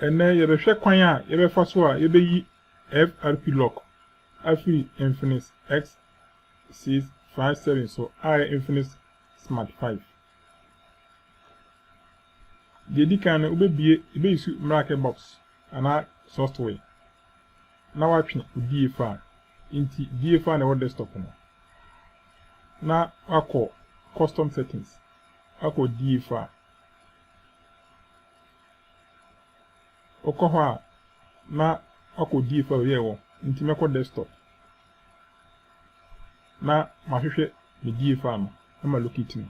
Ɛnnɛ, yɛbɛhwɛ kwan a yɛbɛfa so a yebeyi FRP lock afi Infinix X657 so a ɛyɛ Infinix Smart 5. Deɛ edi kan no, wobebue, ebeyi so Miracle Box anaa software. na watwe odie fa a nti die fa na ɛwɔ desktop no na wakɔ custom settings akɔ die fa a ɔkɔ hɔ a na wakɔ die fa yɛ wɔ nti mɛkɔ desktop na mahwehwɛ me die fa no na ma locate no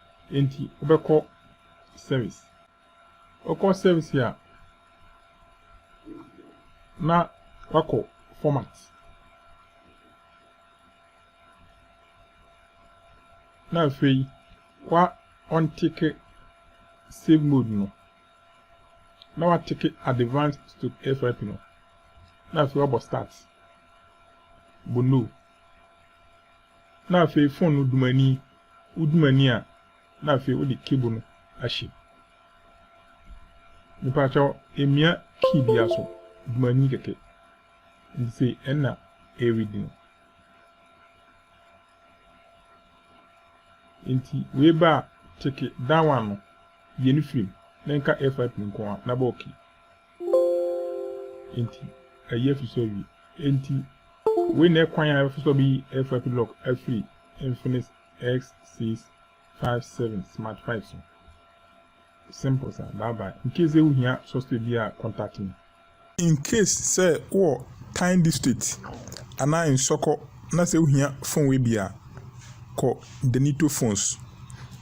Enti wobɛkɔ service. Wokɔ service a, na wakɔ format. Na afei wa ɔnteke save mode no. Na wateke advanced stroke FIP no. Na afei wabɔ start. Bɔ no. Na afei fon no dumani, wo dumani a na afei wode cable no ahyɛ mu. Mepakyɛw emia key bia so, dumani kɛkɛ. Nti sei ɛna ɛredi no. Nti wei ba a teke that one no yie no firi mu na nka F5 nko a na bɔ okay. Enti, ayi afi so awie. Enti, wei na ɛkwan a ɛbɛfa so bɛyi FIP lock afiri Infinix X657 Smart 5 so. Simple sa, bye bye. In case sɛ wohia software bi a, contact me. In case sɛ wowɔ Tyne District anaa Nsɔkɔ na sɛ wohia phone wei bi a, kɔ Denito Phones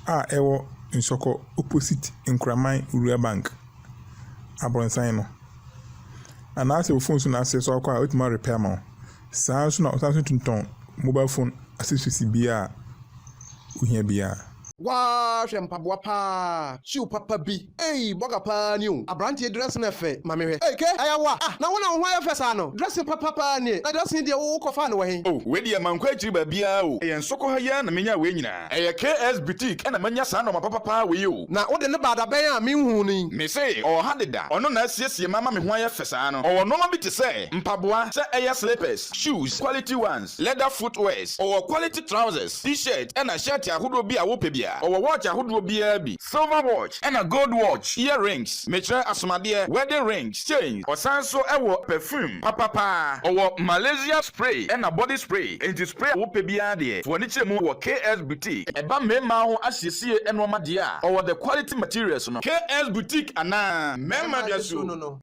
a ɛwɔ Nsɔkɔ opposite Nkoraman Wura Bank. abrɔnsan no. Anaasɛ wo phone so na asɛe so akɔ a wobɛtumi a repair ama wo. Saa nso na ɔsan so tumi tɔn mobile phone accessories biara a wohia biara. Waa hwɛ mpaboa paa shoe papa bi ei bɔga paa ni o abranteɛ dressing ɛfɛ ma me hwɛ ei kay ayawa ah na wo na wo ho ayɛ fɛ saa no dressing papa paa nie na dressing deɛ wo kɔ faa no wɔ he. Oh wei deɛ mankɔ akyiri baabiara o ɛyɛ nsoko ha yi ara na menyaa wei nyinaa. Ɛyɛ KS boutique na manya saa nɔɔma papa paa wei o. Na wode no ba dabɛn a menhuu no yi. Mese ɔwɔ ha deda, ɔno na asiesie me ama me ho ayɛ fɛ saa no. Ɔwɔ nnoɔma bi te sɛ, mpaboa, sɛ ɛyɛ slippers, shoes, quality ones, leather footwears, ɔwɔ quality trousers, t-shirt ɛna shirt ahodoɔ bi a wopɛ biara. Ɔwɔ watch ahodoɔ biara bi. Silver watch ɛna gold watch, ear rings, mekyerɛ asomadeɛ, wedding rings, chains, ɔsan so wɔ perfume papa paa, ɔwɔ Malaysia spray ɛna body spray, enti spray a wopɛ biara deɛ to w'ani kyerɛ mu wɔ KS boutique. Ɛba mmarimaa ho asiesie nnoɔma deɛ a, ɔwɔ the quality materials no. KS boutique anaa. Mmarima dwasuo no no.